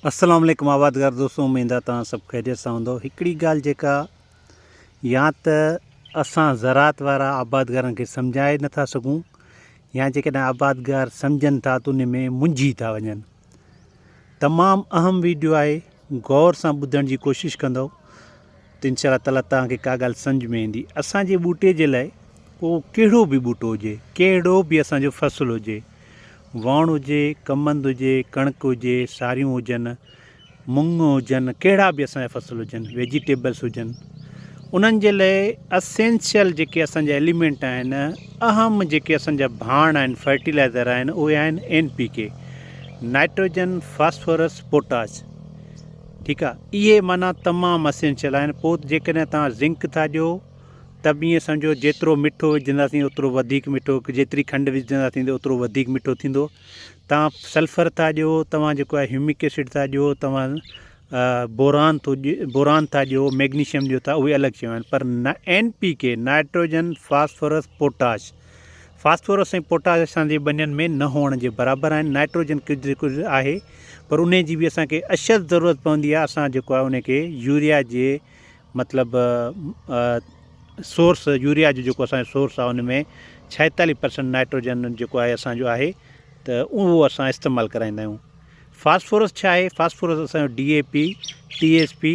السلام عليڪم آبادگار دوستو اميد آ توهان سڀ خيريت سان هوندو هڪڙي ڳالهه جيڪا يا ته اسان زراعت وارا آبادگارن کي سمجهائي نٿا سگهون يا جيڪڏهن آبادگار سمجهن ٿا ته ان ۾ منجهي ٿا وڃن تمام اهم ويڊيو آهي غور سان ٻڌڻ جي ڪوشش ڪندؤ ته انشاء الله تعالٰي توهان کي ڪا ڳالهه سمجهه ۾ ايندي اسان جي ٻوٽي جي لاء اهو ڪهڙو به ٻوٽو هجي ڪهڙو به اسان جو فصل هجي وڻ هجي ڪمند هجي ڪڻڪ هجي ساريون هجن مونگ هجن ڪهڙا به اسان جا فصل هجن ويجيٽيبلس هجن انهن جي لاء اسينشل جيڪي اسان جا ايليمنٽ آهن اهم جيڪي اسان جا ڀاڻ آهن فرٽيلائزر آهن اهي آهن N P K nitrogen, phosphorus, potash ٺيڪ آ اهي معنيٰ تمام اسينشل آهن پوء جيڪڏهن توهان زنڪ ٿا ڏيو ته به ائين سمجهو جيترو مٺو وجهنداسين اوترو وڌيڪ مٺو جيتري کنڊ وجهنداسين ته اوترو وڌيڪ مٺو ٿيندو توهان سلفر ٿا ڏيو توهان جيڪو آهي هيومڪ ايسڊ ٿا ڏيو توهان بوران ٿو بوران ٿا ڏيو ميگنيشيم ڏيو ٿا اهي الڳ شيون آهن پر نا N P K nitrogen phosphorus potash phosphorus ۽ potash اسان جي ٻنين ۾ نه هئڻ جي برابر آهن، نائٽروجن ڪجهه ڪجهه آهي پر انهي جي به اسان کي اشد ضرورت پوندي آهي، اسان جيڪو آهي انهي کي يوريا جي مطلب سورس يوريا جو جيڪو اسان جو سورس آهي ان ۾ ڇائيتاليھ پرسنٽ نائٽروجن جيڪو آهي اسان جو آهي ته اهو اسان استعمال ڪرائيندا آهيون. فاسفورس ڇا آهي؟ فاسفورس اسان جو D A P, T S P,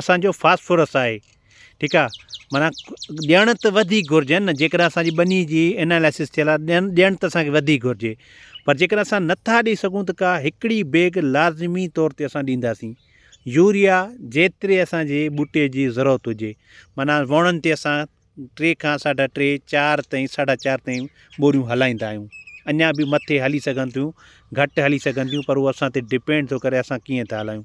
اسانجو فاسفورس آهي ٺيڪ آ معنيٰ ڏيڻ ته وڌيڪ گهرجن نه جيڪڏهن اسانجي ٻني جي اناليسس ٿيل آ ڏين ڏيڻ ته اسانکي وڌيڪ گهرجي پر جيڪڏهن اسان نٿا ڏئي سگهون ته ڪا هڪڙي بيگ لازمي طور تي اسان ڏينداسين يوريا جيتري اسانجي ٻوٽي جي ضرورت هجي معنيٰ وڻن تي اسان ٽي کان ساڍا ٽي چار تائين ساڍا چار تائين ٻوريون هلائيندا آهيون اڃا به مٿي هلي سگهن ٿيون گهٽ هلي سگهن ٿيون پر هو اسان تي ڊپينڊ ٿو ڪري اسان ڪيئن ٿا هلايون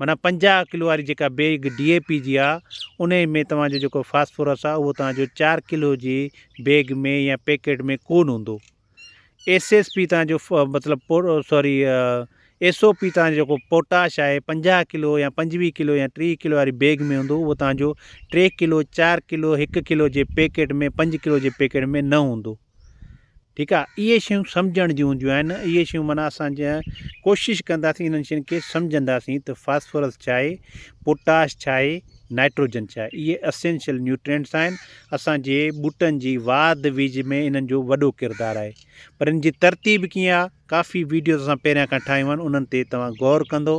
معنيٰ پنجاهه ڪلو واري جيڪا بيگ ڊي اي پي جي آ انهي ۾ توهان جو جيڪو فاسفورس آ اهو توهان جو چار ڪلو جي بيگ ۾ يا پيڪيٽ ۾ ڪون هوندو ايس ايس پي توهان جو مطلب سوري ايس او پي توهان جو جيڪو پوٽاش آهي پنجاهه ڪلو يا پنجويهه ڪلو يا ٽيهه ڪلو واري بيگ ۾ هوندو اهو توهان جو ٽي ڪلو چار ڪلو هڪ ڪلو جي پيڪيٽ ۾ پنج ڪلو جي پيڪيٽ ۾ نه هوندو ٺيڪ آ اهي شيون سمجهڻ جون هونديون آهن اهي شيون معنيٰ اسان جا ڪوشش ڪنداسين انهن شين کي سمجهنداسين ته فاسفورس ڇا آهي پوٽاش ڇا آهي نائٽروجن ڇا آهي اهي اسينشل نيوٽرينٽس آهن اسان جي ٻوٽن جي واڌ ويجهه ۾ انهن جو وڏو ڪردار آهي پر ان جي ترتيب ڪيئن آهي ڪافي ويڊيوز اسان پهريان کان ٺاهيون آهن انهن تي توهان غور ڪندو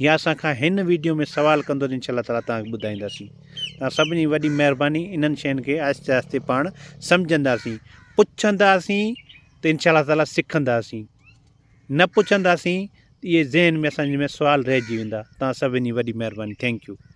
يا اسان کان هن ويڊيو ۾ سوال ڪندو ته انشاء الله تعالٰي توهان کي ٻڌائينداسين توهان سڀني جي وڏي مهرباني انهن شين کي آهستي آهستي پاڻ سمجهنداسين پڇنداسين ته انشاء الله تعالٰي سکنداسين نه پڇنداسين اهي ذهن ۾ اسان جي ۾ سوال رهجي ويندا توهان سڀني جي وڏي مهرباني ٿينڪ يو